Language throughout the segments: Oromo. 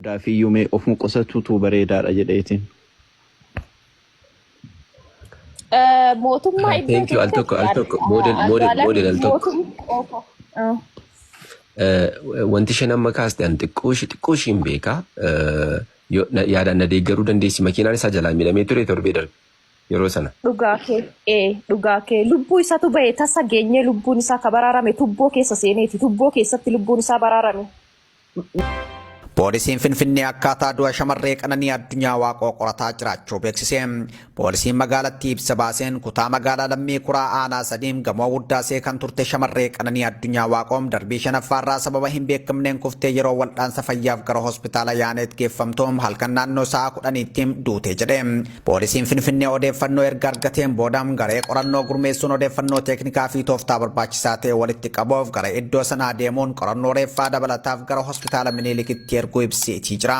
Daafiyyuu mee ofuma qosatuutu bareedaadha jedheetiin. Eh, Mootummaa iddoo Thank you al tokko keessatti al tokko model model model al algaalamni tokko. mootummaa. Eh, Wanti isheen amma kaaste an xiqqoo ishee xiqqoo ishee hin beeka. Eh, yoo- na- Yaadaan na deeggaruu dandeessi makiinaan isaa jalaa miidhamee ture torbee darbe yeroo sana. Dhugaa kee ee dhugaa kee lubbuu isatu bahe tasa geenyee lubbuun isaa ka baraarame tubboo keessa seeneeti tubboo keessatti lubbuun isaa baraarame Poolisiin Finfinnee akkaataa du'a shamarree Qananii Addunyaa Waaqoo qorataa jiraachuu beeksise. Poolisiin magaalattii ibsa baaseen kutaa magaalaa Lammii Kuraa Aanaa Sadiim gamoo Wuddaasee kan turte shamarree Qananii Addunyaa Waaqoo darbii shanaffaarraa sababa hin beekamneen kuftee yeroo wal'aansa fayyaaf gara hospitaala Yaaneet geeffamtu halkan naannoo sa'a kudhaniitti duute jedhe. Poolisiin Finfinnee odeeffannoo erga argateen booda garee qorannoo gurmeessuun odeeffannoo teeknikaa fi tooftaa barbaachisaa ta'e walitti qabuuf gara iddoo sanaa deemuun qorannoo reeffaa dabalataaf gara hospitaala Miniilikitti erguu ibseetii jira.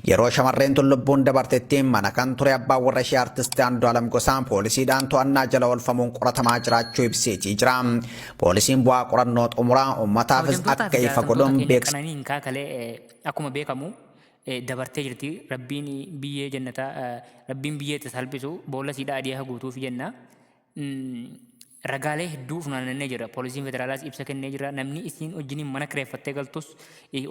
Yeroo shamarreen tun lubbuun dabartetti mana kan ture abbaan warra ishee artisti Andu'aalam Gosaa poolisiidhaan to'annaa jala oolfamuun qoratamaa jiraachuu ibseetii jira. Poolisiin bu'aa qorannoo xumuraa uummataafis akka ifa godhuun beeksisa. Qananiin kaakalee akkuma beekamu dabartee jirti rabbiin biyyee jannataa rabbiin biyyee itti salphisu boolla siidhaa adii haa guutuuf jenna. Ragaalee hedduu funaanannee jira. Poolisiin federaalaas ibsa kennee jira. Namni isiin wajjiniin mana kireeffattee galtus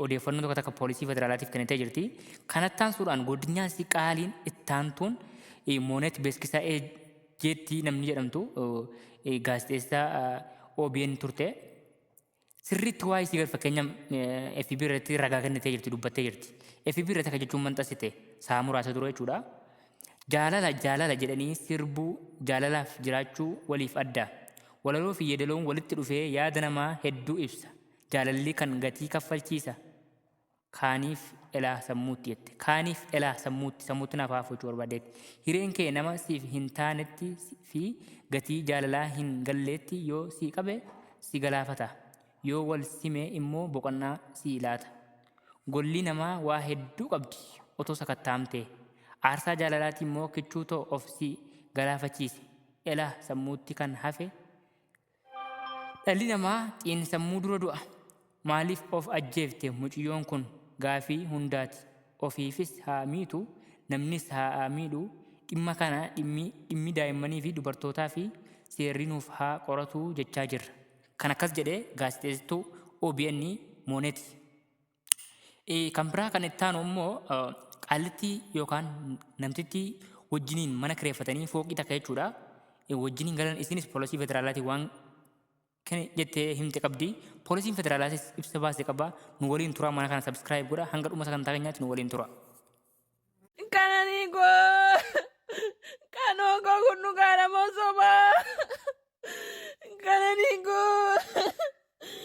odeeffannoo tokko takka poolisii federaalaatiif kennitee jirti. Kanattaan suuraan godinyaa isii qaaliin ittaantuun mooneet beeskisaa jeetti namni jedhamtu gaazexeessaa OBN turte. Sirriitti waa'ee isii fakkeenya FB irratti ragaa kennitee jirti dubbattee jirti. FB irratti akka jechuun manxasite sa'a muraasa dura jechuudha. Jaalala jaalala jedhanii sirbuu jaalalaaf jiraachuu waliif adda. Walaloo fi yeedaloon walitti dhufee yaada namaa hedduu ibsa. Jaalalli kan gatii kaffalchiisa. kaaniif elaa sammuutti jette kaaniif elaa sammuutti sammuutti naaf haafuuchuu barbaaddeetti hireen kee nama siif hin taanetti fi gatii jaalalaa hin galleetti yoo si qabe si galaafata yoo wal sime immoo boqonnaa si laata golli namaa waa hedduu qabdi otoo sakattaamtee aarsaa jaalalaati immoo kichuu too of si galaafachiise elaa sammuutti kan hafe Dhalli namaa xiinsammuu dura du'a. Maaliif of ajjeefte muciyyoon kun gaafii hundaati. Ofiifis haa miitu, namnis haa miidhu, dhimma kana dhimmi daa'immaniifi dubartootaafi seerri nuuf haa qoratu jechaa jirra. Kan akkas jedhe gaazexeessittuu obn Monet Kan biraa kan itti aanu immoo qaallittii yookaan namtittii wajjiniin mana kireeffatanii fooqii takka jechuudha. Wajjiniin galan isinis poolisii federaalaatiin waan kan jettee himte qabdi. Poolisiin federaalaatis ibsa baase qaba. Nu waliin turaa mana kana sabskiraayib godha. Hanga dhuma sagantaa keenyaatti nu waliin tura. Kananii koo kanoo koo kun dhugaadha moo sobaa? Kananii koo.